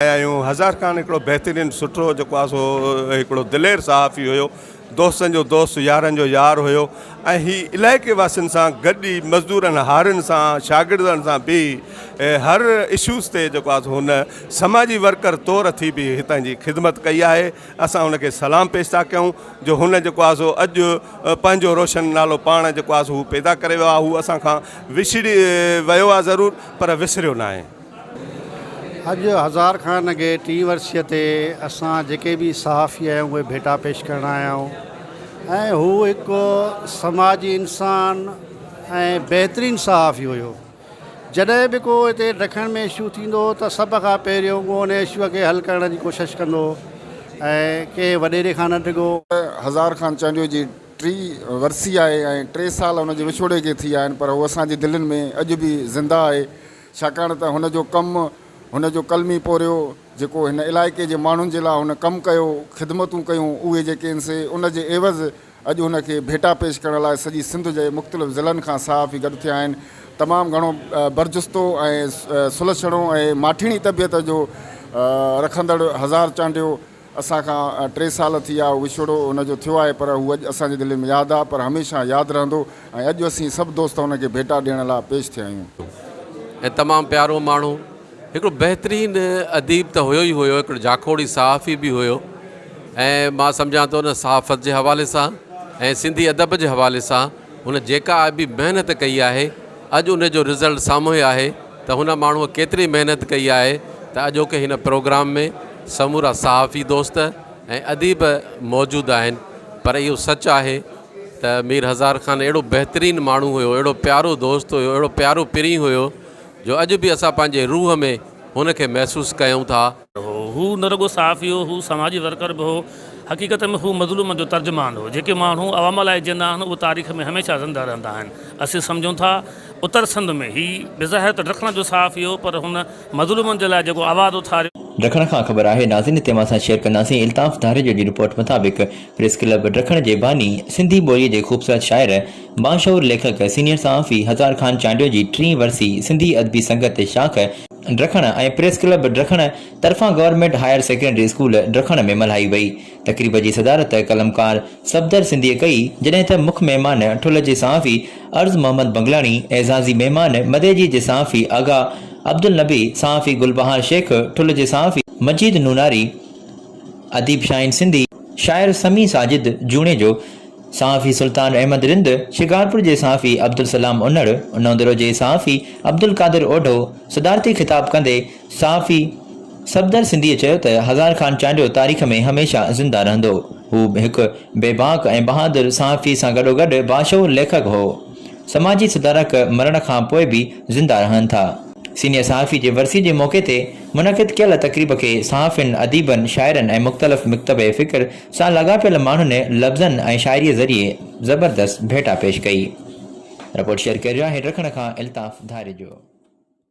آهيون هزار خان هڪڙو بهترين سٺو جيڪو آهي سو هڪڙو دلير صحافي هيو دوستن جو دوست يارن جو يار هيو ۽ هي علائقي واسين سان گڏ ئي مزدورن هارين سان شاگردن سان به هر اشوز تي جيڪو آهي هن سماجي ورڪر طور ٿي به هتان جي خدمت ڪئي آهي اسان هن کي سلام پيش ٿا ڪيون جو هن جيڪو آهي سو اڄ پنهنجو روشن نالو پاڻ جيڪو آهي سو هو پيدا ڪري ويو آهي هو اسان کان وڇڙي ويو آهي ضرور پر وسريو ناهي اڄ هزار کان اڳي ٽين ورسيء تي اسان جيڪي به صحافي آهيون اهي ڀيٽا پيش ڪرڻ آيا آهيون ۽ هو هڪ سماجي انسان ۽ بهترين صحافي هيو جڏهن به ڪو هتي ڊکڻ ۾ اشو ٿيندو هو ته سڀ کان پهريون هو ان اشو کي حل ڪرڻ جي ڪوشش ڪندو هو ۽ ڪنهن وڏيري کان نه ڊگهو هزار خان چانڊيو جي ٽي ورسي آهي ۽ ٽي سال ان جي وڇوڙي کي ٿي آهن پر هو اسان جي دلين ۾ اڄ به زنده آهي. ڇاڪاڻ ته هن جو ڪم، هن جو قلمي پورهيو، جيڪو هن علائقي جي ماڻهن جي لاء هن ڪم ڪيو، خدمتون ڪيون، اهي جيڪي هن سي، ان جي عيوض اڄ هن کي ڀيٽا پيش ڪرڻ لاء سڄي سنڌ جي مختلف ضلعن کان صحافي گڏ ٿيا آهن. تمام گهڻو برجستو ۽ سلڇڻو ۽ ماٺيڻي طبيعت جو رکندڙ هزار چانڊيو، اسان کان ٽي سال ٿي ويا، وڇوڙو هن جو ٿيو آهي پر هو اڄ اسان جي دلين ۾ ياد آهي پر هميشه ياد رهندو ۽ اڄ اسين سڀ دوست هن کي ڀيٽا ڏيڻ لاء پيش ٿيا آهيون. ۽ تمام پيارو ماڻهو، هڪڙو بهترين اديب ته هيو ئي هيو، هڪڙو جاکوڙي صحافي به هيو ۽ مان سمجهان ٿو نه صحافت جي حوالي سان ۽ سنڌي ادب جي حوالي سان هن جيڪا به محنت ڪئي آهي اڄ ان جو رزلٽ سامهون آهي ته هن ماڻهوء ڪيتري محنت ڪئي آهي ته اڄوڪي هن پروگرام ۾ سمورا صحافي دوست ۽ اديب موجود آهن پر اهو سچ آهي ته مير هزار خان اهڙو بهترين ماڻهو هيو اهڙو پيارو دوست هيو اهڙو پيارو پرينء هيو جو اڄ به اسان پنهنجي روح ۾ هن کي محسوس ڪيون ٿا. هو. هو نه رڳو صحافي هو، هو سماجي ورڪر به هو. حقيقت ۾ هو مظلومن جو ترجمان هو. جيڪي ماڻهو عوام لاء جيئندا آهن، اهي تاريخ ۾ هميشه زنده رهندا آهن. اسين سمجهون ٿا، اتر سنڌ ۾ هي بظاهر ته ڊکڻ جو صحافي هو، پر هن مظلومن جي لاء جيڪو آواز اٿاريو. ڊکڻ کان خبر آهي ناظرين هتي اوهان سان شيئر ڪنداسين الطاف ڌاريجو جي رپورٽ مطابق پريس ڪلب ڊکڻ جي باني سنڌي ٻولي جي خوبصورت شاعر باشعور ليکڪ سينيئر صحافي هزار خان چانڊيو جي ٽين ورسي سنڌي ادبي سنگت شاخ ڊرکڻ ۽ پريس ڪلب ڊرکڻ طرفان government higher secondary school Dakhan ۾ ملهائي وئي. تقريب جي صدارت قلمڪار صفدر سنڌيء ڪئي، جڏهن ته مک مهمان ٺلهه جي صحافي عرض محمد بنگلاڻي، اعزازي مهمان مديجي جي صحافي آغا عبدالنبي، صحافي گلبهار شيخ، ٺلهه جي صحافي مجيد نوناري، اديب شاهين سنڌي، شاعر سميع ساجد جوڻيجو، صحافي سلطان احمد رند، شڪارپور جي صحافي عبدالسلام انڙ، نوندرو جي صحافي عبدالقادر اوڍو صدارتي خطاب ڪندي صحافي صفدر سنڌيء چيو ته هزار خان چانڊيو تاريخ ۾ هميشه زنده رهندو. هو هڪ بي باڪ ۽ بهادر صحافي سان گڏوگڏ باشعور ليکڪ هو. سماجي سڌارڪ مرڻ کان پوء به زنده رهن ٿا. سينيئر صحافي جي ورسيء جي موقعي تي منعقد ڪيل تقريب کي صحافين، اديبن، شاعرن ۽ مختلف مڪتبه فڪر سان لاڳاپيل ماڻهن لفظن ۽ شاعريء ذريعي زبردست ڀيٽا پيش ڪئي. رپورٽ شيئر ڪريو آهي ڊکڻ کان الطاف ڌاريجو.